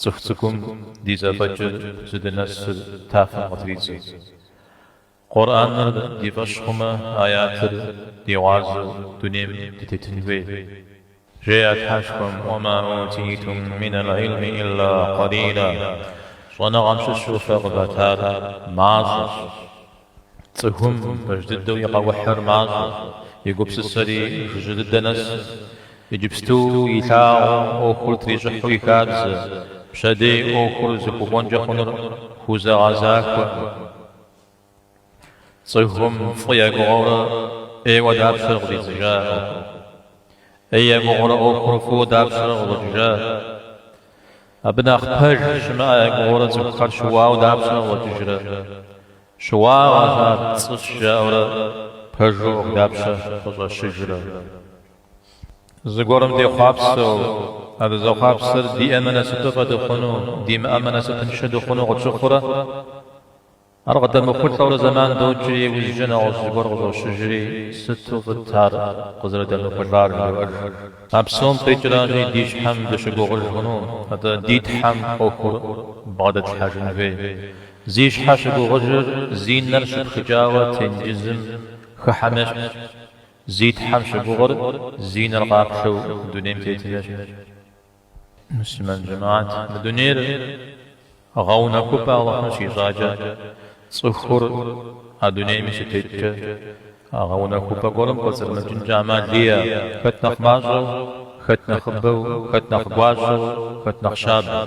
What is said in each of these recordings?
Цӏыху цӏыкӏум ди зэфӏэкӏыр зыдынэсыр тафэм къытридзэ. Къурӏэныр ди фӏэщ хъумэ, аятыр ди гъуазэу дунейм дытетын хуей. Жеӏэ Тхьэшхуэм, Уэ ма утитум минал ӏилми илла къалила, щӏэныгъэм щыщу фэ къыватар мащӏэщ. Цӏыхум пэж дыдэу и къэухьыр мащӏэу, и гупсысэри жыжьэ дыдэ нэсу, иджыпсту илъагъум ӏуэхур трищӏыхьу и хабзэ, пщэдей ӏуэхур зыхуэкӏуэнкӏэ хъунур хузэгъэзахуэ. Цӏыхум фӏы и гугъэурэ ӏейуэ дапщэрэ къыщӏидзыжа ӏуэхур? ӏей и гугъэурэ ӏуэхур фӏыуэ дапщэрэ къыщӏэкӏыжа? Абы нэхъ пэж щымыӏэ я гугъэурэ цӏыхухэр щыуауэ дапщэ къагъуэтыжрэ? Щыуагъэщ ар, пцӏыщ жаӏэурэ пэжу ӏуэху дапщэ къыщӏэщыжрэ? Зыгуэрым дехъуапсэу, а дызэхъуапсэр диӏэмэ насыпыфӏэ дыхъуну, димыӏэмэ насыпыншэ дыхъуну къытщыхъурэ? Ар къыдэмыхъулӏэурэ зэман докӏри, иужькӏэ нэгъуэщӏ зыгуэр къыщӏощыжри, Сыту фӏыт ар къызэрыдэмыхъулӏар, жыдоӏэж. А псом къикӏращи, ди щхьэм дыщыгугъыж хъуну, атӏэ ди Тхьэм ӏуэхур бгъэдэтлъхьэжын хуей. Зи щхьэ щыгугъыжыр, зи нэр щыпхыкӏауэ тенджызым хыхьэм ещхьщ. Зи Тхьэм щыгугъыр, зи нэр къаплъэу дунейм тетым ещхьщ. Муслъымэн жэмаат мы дунейр гъэунэхупӏэ Алыхьым щищӏакӏэ, цӏыхур а дунейми щытеткӏэ, а гъэунэхупӏэ гуэрым кӏуэцӏрымыкӏынкӏэ ӏэмал иӏэ, хэт нэхъ мащӏэу, хэт нэхъыбэу, хэт нэхъ гуащӏэу, хэт нэхъ щабэу.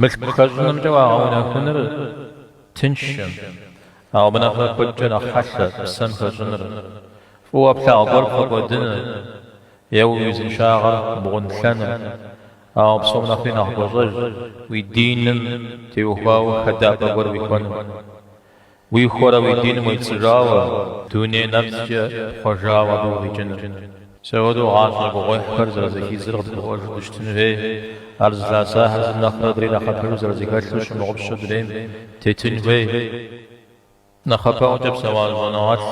Мылъку хэщӏынымкӏэ уагъэунэхуныр тыншым, ауэ абы нэхърэ куэдкӏэ нэхъ хьэлъэ псэм хэщӏыныр, фӏыуэ плъагъу гуэр пфӏэкӏуэдыныр е уи узыншагъэр бгъунлъэныр, ауэ псом нэхъри нэхъ гуащӏэжщ уи диным теухуауэ хэдапӏэ гуэр уихуэныр. Уихуэрэ уи диным уепцӏыжауэ, дуней нэпцӏкӏэ пхъуэжауэ абы укъикӏыныр. Сыт хуэдэу гъащӏэ гугъуехьхэр зэрызэхидзыр къыдгурыӏуэжу дыщытыну хуей, ар зылъэӏэсахэр зым нэхърэ адрей нэхъапэжу зэрызэхэлъу щымыгъупщэу дунейм тетын хуей. Нэхъапэӏуэкӏэ псэуа щӏэныгъэлӏ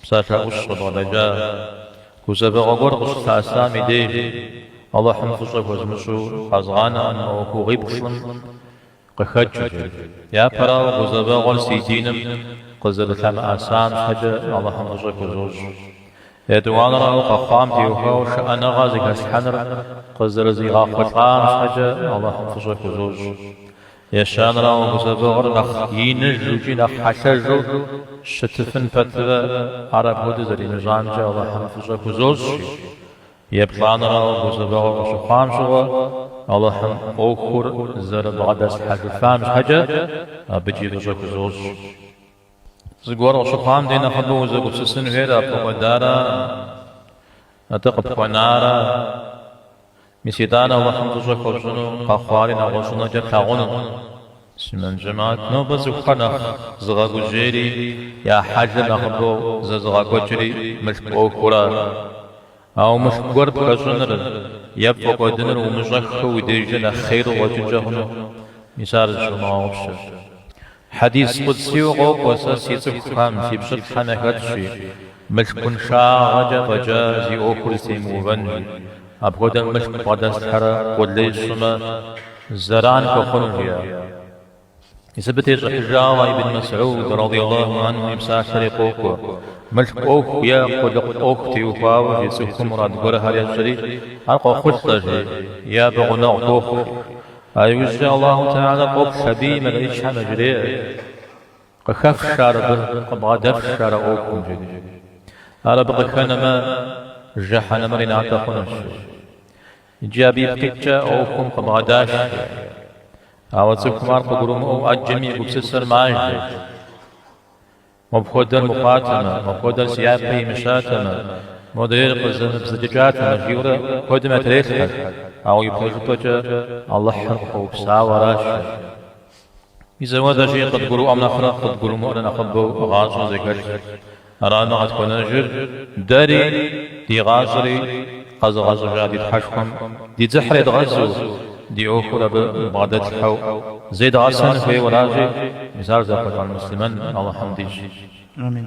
псалъэ ӏущ къыбгъэдэкӏа гузэвэгъуэ гуэр къыщылъэӏэсам и дежи, Алыхьым фӏыщӏэ хуэзмыщӏу къэзгъанэкъым мы ӏуэхугъуиплӏым Къыхэкӏри, япэрауэ, гузэвэгъуэр си диным къызэрылъэмыӏэсам щхьэкӏэ Алыхьым фӏыщӏэ хузощӏ. Етӏуанэрауэ, къэхъуам теухуауэ шыӏэныгъэ зэхэслъхьэныр къызэрызигъэхъулӏам щхьэкӏэ Алыхьым фӏыщӏэ хузощӏ. Ещанэрауэ, гузэвэгъуэр нэхъ иныжу икӏи нэхъ хьэлъэжу щытыфын пэтурэ, ар апхуэдэу зэримыщӏамкӏэ Алыхьым фӏыщӏэ хузощӏ, жи. Еплӏанэрауэ гузэвэгъуэ къыщыхъуам щыгъуэ, Алыхьым ӏуэхур зэрыбгъэдэслъхьэжыфам щхьэкӏэ, абыкӏи фӏыщӏэ хузощӏ. Зыгуэр къыщыхъуам дей нэхъыбэу узэгупсысын хуейр а пфӏэкӏуэдара? Атӏэ къыпхуэнара? Мис итӏанэ Алыхьым фӏыщӏэ хуэпщӏыну къэхъуари нэгъуэщӏынэкӏэ плъагъуну. Муслъымэн жэмахьэт, нобэ цӏыхухэр нэхъ зыгъэгужьейри, я хьэлыр нэхъыбэу зэзыгъэкӏуэкӏри мылъку ӏуэхуращ. Ауэ мылъку гуэр пхэщӏыныр е пфӏэкӏуэдыныр умыщӏэххэу уи дежкӏэ нэхъ хъейр къикӏынкӏэ хъуну? Мис ар зыщумыгъэгъупщэ. Хьэдис къудсийуэ къокӏуэ, Сэ си цӏыхухэм, си пщылӏхэм яхэтщи, мылъкуншагъэкӏэ фӏэкӏа зи ӏуэхур зэтемыувэн, жи. Апхуэдэм мылъку бгъэдэслъхьэрэ къулей сщӏымэ, зэран хуэхъуну жеӏэ. Мис абы тещӏыхьыжауэ Ибн Мэсьуд, радий Аллаху анху, и псалъэри къокӏуэ, мылъку ӏуэху е къулыкъу ӏуэху теухуауэ жи цӏыхум мурад гуэрхэр ещӏри, ар къохъулӏэ, жи, е абы гъунэгъу хуохъу, а иужькӏэ Аллаху Тэхьала къоплъ абы, и мэлэӏычхэм яжреӏэ. Къыхэфш ар абы, къыбгъэдэфш ар а ӏуэхум, жеӏэри. Ар абы къыхэнэмэ, жэхьэнэмыр и натӏэ хъунущ, жи. Иджы абы ипкъ иткӏэ а ӏуэхум къыбгъэдаш, жи. Ауэ цӏыхум ар къыгурымыӏуэу ӏэджэми и гупсысэр мажэ. Мыпхуэдэр мыхъуатэмэ, мыпхуэдэр си япэ имыщатэмэ, модрейр къызэмыбзэджэкӏатэмэ, жиӏэурэ куэдым ятрелъхьэ, ауэ ипэжыпӏэкӏэ Алыхьыр къыхуэупсауэ аращ, жи. Мис апхуэдэщи, къыдгурыӏуэм нэхърэ къыдгурымыӏуэр нэхъыбэу гъащӏэр зэхэлъщ. Арамэ къытхуэнэжыр, дэри, ди гъащӏэри къэзыгъэщӏыжа ди Тхьэшхуэм ди дзыхьыр едгъэзу, ди ӏуэхур абы бгъэдэтлъхьэу зедгъэсэн хуейуэращи, мис ар зэхъулӏэн муслъымэн Алыхьым дищӏ. Амин.